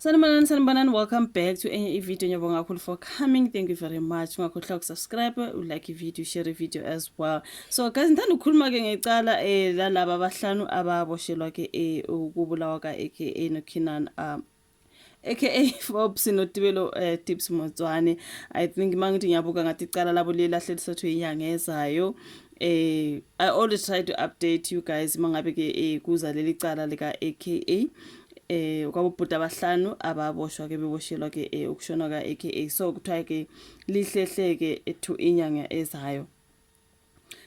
Sanibonani sanibonani welcome back to enye ivideo ngiyabonga kakhulu for coming thank you very much ungakhohlwa ukusubscribe ulike ivideo share ivideo as well so guys ngithanda ukukhuluma-ke ngecala um eh, lalaba abahlanu ababoshelwa-ke um eh, ukubulawa ka-aka nokhinan um aka Forbes notibelo uh, eh, tips Motswane i think mangithi ngiyabuka ngathi icala labo liyelahle lisathu inyanga ezayo eh i always try to update you guys mangabe ke eh, kuza leli cala lika AKA eh kwabobhuti abahlanu ababoshwa ke beboshelwa ke eh, ukushona ka AKA so kuthiwa ke lihlehleke ethu inyanga ezayo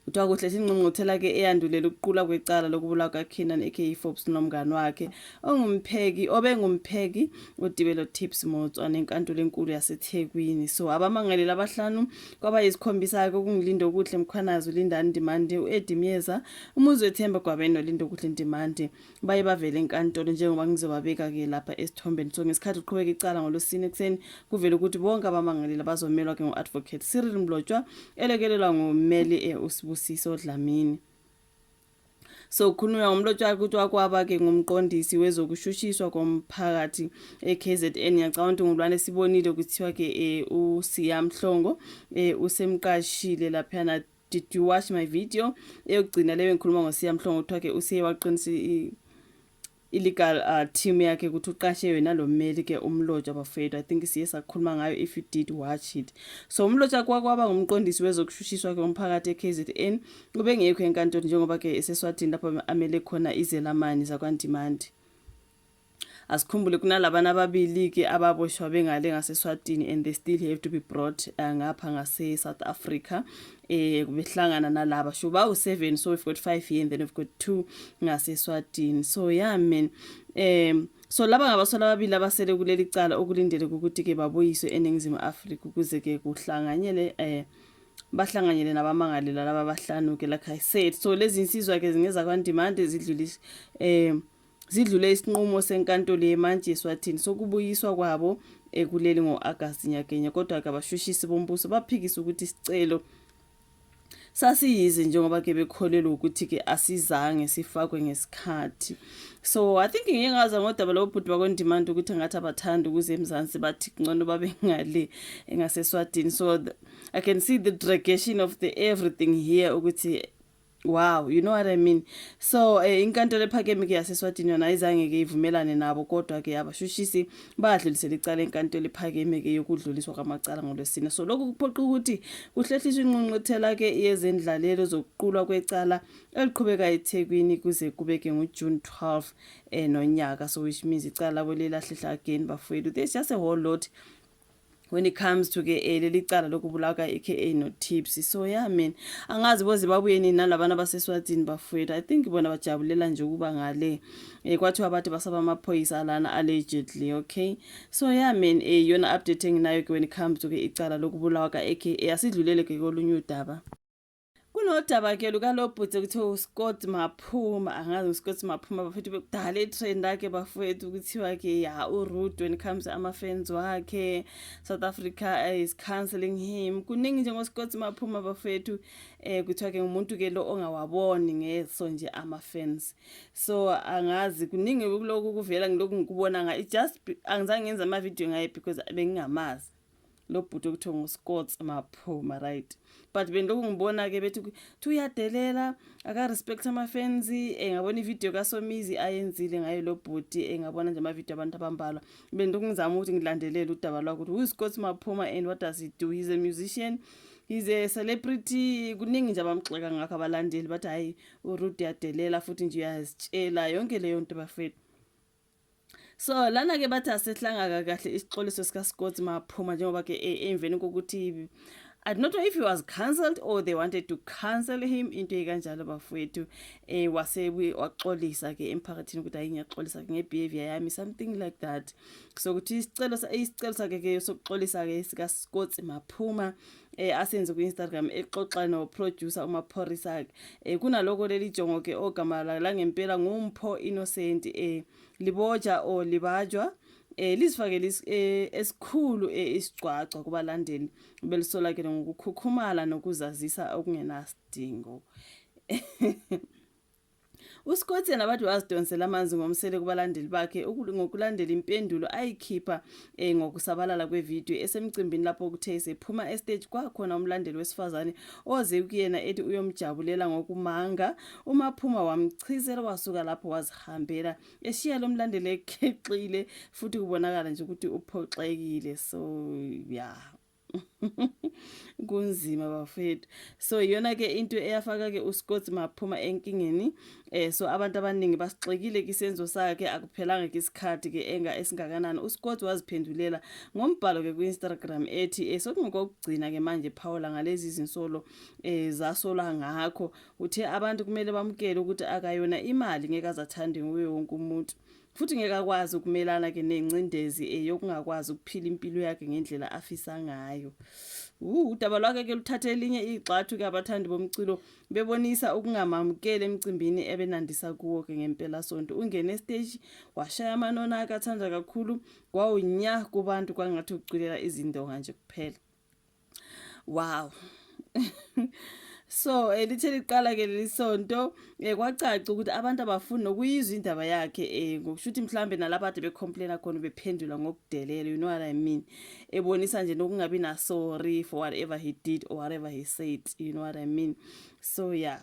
kuthiwa kuhle singqungquthela ke eyandulela ukuqula kwecala lokubulawa kaKeenan aka Forbes nomngane wakhe ongumpheki obengumpheki uDibelo Tips Motswa nenkantolo enkulu yaseThekwini so abamangaleli abahlanu kwaba yisikhombisa-ke ukungilinda okuhle mkhwanazi ulindani ndimandi u-edi myeza umuzi wethemba gwabeni nolindo okuhle ndimandi baye bavele enkantolo njengoba ngizobabeka-ke lapha esithombeni so ngesikhathi uqhubeka icala ngolosini ekuseni kuvele ukuthi bonke abamangaleli bazomelwa ke ngu-advocate cyril mlotshwa elekelelwa ngummeli e-usibusiso dlamini Sokukhulunywa ngomlotshwa ukuthi wakwaba-ke ngumqondisi wezokushushiswa komphakathi e-KZN. Ngiyacabanga ukuthi ngulwane sibonile kuthiwa-ke um uSiya Mhlongo um usemqashile laphayana did you watch my video eyokugcina leyo engikhuluma ngosiya mhlongo kuthiwa-ke usiye waqinisa illegal uh, team yakhe ukuthi uqashe yona lo mmeli ke umlotshwa bafethu i think siye sakhuluma ngayo if you did watch it so umlotshwa kwakwaba ngumqondisi wezokushushiswa ke umphakathi eKZN ubengekho enkantolo njengoba ke eseswatini lapho amele khona izelamani zakwandimandi asikhumbule kunalabana ababili ke ababoshwa bengale ngaseswatini and they still have to be brought uh, ngapha ngase-south africa eh kubehlangana nalaba sho ba u7 so we've got 5 here and then we've got 2 ngaseswatini so yeah man um so laba ngabasola ababili abasele kuleli cala okulindele ukuthi ke babuyiswe eningizimu Afrika ukuze ke kuhlanganyele eh bahlanganyele nabamangalelwa laba bahlanu ke like i said so lezi insizwa ke zingeza kwandimande zidlulise um Zidlule isinqumo seNkantolo yeMantshi eSwatini sokubuyiswa kwabo ekuleli ngo-Agasti nyakenye kodwa-ke abashushisi bombuso baphikisa ukuthi isicelo sasiyize njengoba ke bekholelwa ukuthi ke asizange sifakwe ngesikhathi so i think ngike ngaza ngodaba labo bhuti bakwendimanda ukuthi ngathi abathanda ukuze emzansi bathi ngcono babe ngale engaseswadini so the, i can see the dragation of the everything here ukuthi Wow, you know what I mean. So eh, inkantolo ephakeme ke yaseSwatini yona ayizange ke ivumelane nabo kodwa ke abashushisi badlulisela icala enkantolo ephakeme ke yokudluliswa kwamacala ngolwesine. So lokhu kuphoqa ukuthi kuhlehliswe inqunqothela ke yezendlalelo zokuqulwa kwecala eliqhubeka eThekwini kuze kube ke ngoJune 12 eh nonyaka so which means icala kwelelahlehla again bafowethu. There's just a whole lot when it comes to ke eh, leli cala lokubulawa ka-aka notipsy so ya yeah, mina angazi bozimbabuyeni nalabana baseswatini bafowethu i think bona bajabulela nje ukuba ngale um kwathiwa bathi basaba amaphoyisa alana allegedly okay so ya yeah, mina um yona update enginayo ke when it comes to ke icala lokubulawa ka-aka asidlulele ke kolunye udaba kunodaba ke lukalobhuti kuthiwa uscott maphuma angazi uscott maphuma bafethu bekudala itrend akhe bafethu kuthiwa ke ya urude when it comes ama-fans wakhe south africa eh, is cancelling him kuningi njengoscott maphuma bafethu um eh, kuthiwa ke ngumuntu ke lo ongawaboni ngeso nje ama-fans so angazi kuningi kuloku kuvela ngiloku ngikubona nga just angizange ngenza amavidiyo ngaye because bengingamazi lo bhuti okuthiwa nguscots maphuma right but bendilokhu ngibona-ke bethi thi uyadelela akarespect amafensi um eh, ngabona ividiyo kasomizi ayenzile ngaye lo bhuti um eh, ngabona nje amavidiyo abantu abambalwa bendilokhu ngizama ukuthi ngilandelele udaba lwakho ukuthi wuscots maphuma and what does he do he's a musician he's a celebrity kuningi nje abamxeka ngakho abalandeli bathi hhayi urude yadelela futhi nje uyazitshela yonke leyo nto bafethu So lana ke bathi asehlangaka kahle isixoliso sika Scott Maphuma njengoba ke e, emveni kokuthi I don't know if he was cancelled or they wanted to cancel him into ekanjalo bafowethu eh wase waxolisa ke emphakathini ukuthi hayi ngiyaxolisa ke ngebehavior yami something like that so ukuthi isicelo isicelo sakhe ke sokuxolisa ke sika Scott Maphuma eh asenze ku-Instagram exoxa noproducer uMaphorisa ke eh kunaloko leli jongo ke ogama la ngempela nguMpho Innocent eh liboja o libajwa eh lizifakele eh, esikhulu eh, isigcwagcwa kubalandeli belisolakele ngokukhukhumala nokuzazisa okungenasidingo UScott yena bathi wazidonsela amanzi ngomsele kubalandeli bakhe ngokulandela impendulo ayikhipha eh, ngokusabalala kwevidiyo esemcimbini lapho kuthe esephuma estage kwakhona umlandeli wesifazane oze kuyena ethi uyomjabulela ngokumanga umaphuma wamchizela wasuka lapho wazihambela eshiya lo mlandeli ekheqile futhi kubonakala nje ukuthi uphoxekile so ya yeah. kunzima bafethu so iyona ke into eyafaka ke uScott maphuma enkingeni eh so abantu abaningi basixekile kisenzo sakhe akuphelanga ke isikhathi ke enga esingakanani uScott waziphendulela ngombhalo ke kuInstagram ethi eh sokungokugcina ke manje Paula ngalezi zinsolo eh zasola ngakho uthe abantu kumele bamukele ukuthi akayona imali ngeke azathande nguye wonke umuntu futhi ngeke akwazi ukumelana ke nengcindezi eh, yokungakwazi ukuphila impilo yakhe ngendlela afisa ngayo udaba lwakhe ke luthathe elinye igxathu ke abathandi bomculo bebonisa ukungamamukeli emcimbini ebenandisa kuwo ke ngempela sonto ungene estage washaya amanona akathanda kakhulu kwawunya kubantu kwangathi ukuculela izindonga nje kuphela wow so elithe eh, liqala ke leli sonto eh, kwacaca ukuthi abantu abafuni nokuyizwa indaba yakhe eh, ngokusho ukuthi mhlawumbe nalapha ade becomplaina khona bephendula ngokudelela you know what i mean ebonisa nje nokungabi na sorry for whatever he did or whatever he said you know what i mean so yeah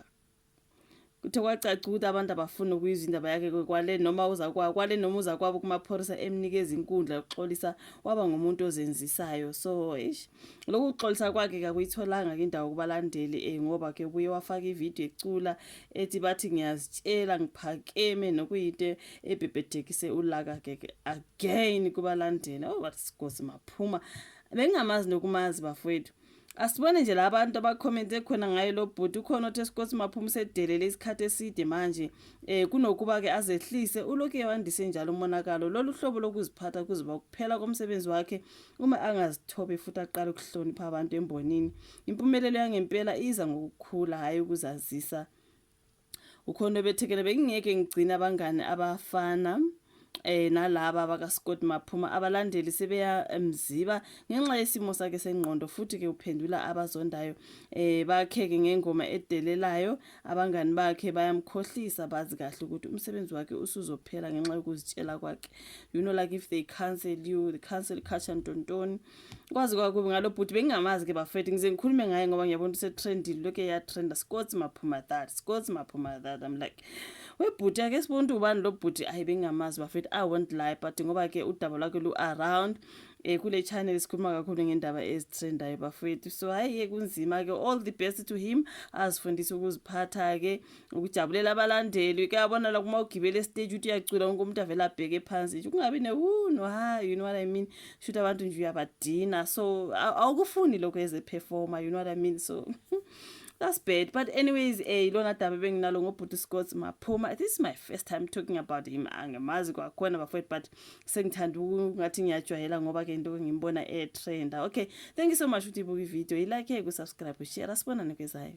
Kuthe kwacaca ukuthi abantu abafuni ukuyizwa indaba yakhe kwekwale noma uza kwa kwale noma uza kwabo kumaphorisa emnikeza inkundla yokuxolisa waba ngumuntu ozenzisayo so eish lokhu kuxolisa kwakhe kakuyitholanga ke indawo kubalandeli eh ngoba ke ubuye wafaka ivideo ecula ethi bathi ngiyazitshela ngiphakeme nokuyinto ebhebhethekise ulaka ke again kubalandeli oh bathi sigosi maphuma bengingamazi nokumazi bafowethu Asibone nje la bantu abakhomente khona ngaye lo bhuti ukhona othe sikhosi maphuma usedelele isikhathi eside manje eh kunokuba ke azehlise uloke wandise njalo umonakalo lolu hlobo lokuziphatha kuzoba kuphela komsebenzi wakhe uma angazithobe futhi aqale ukuhlonipha abantu embonini impumelelo yangempela iza ngokukhula hayi ukuzazisa ukhona obethekela bengingeke ngigcine abangani abafana eh nalaba bakaScott Maphuma abalandeli sebeya emziba ngenxa yesimo sakhe sengqondo futhi ke uphendula abazondayo eh bakheke ngengoma edelelayo abangani bakhe bayamkhohlisa bazi kahle ukuthi umsebenzi wakhe usuzophela ngenxa yokuzitshela kwakhe you know like if they cancel you they cancel catch and don't kwazi kwakubi ngalo bhuti bengingamazi ke bafethu ngize ngikhulume ngaye ngoba ngiyabona usetrendile lokhu eyatrenda scots maphuma that scots maphuma that i'm like webhuti ake sibone ukuthi ubani lo bhuti ayi bengingamazi bafethu i won't lie but ngoba ke udaba lwakhe lu-around um kule channel sikhuluma kakhulu ngendaba ezitrendayo bafethu so hhayi-ke kunzima-ke all the best to him azifundise ukuziphatha-ke ukujabulela abalandeli kuyabona la kuma ugibele estage uthi uyacula wonke umuntu avele abheke phansi nje kungabi newuno ha you know what i mean shuthi abantu nje uyabadina so awukufuni lokho as a performer you know what i mean so that's bad but anyways eh ilona daba benginalo ngobhuti Scott maphuma this is my first time talking about him angemazi kwakhona bafowethu but sengithanda ngathi ngiyajwayela ngoba ke into ngimbona e-trenda okay thank you so much ukuthi ibuka ivideo ilike kusubscribe ushare asibonane kwezayo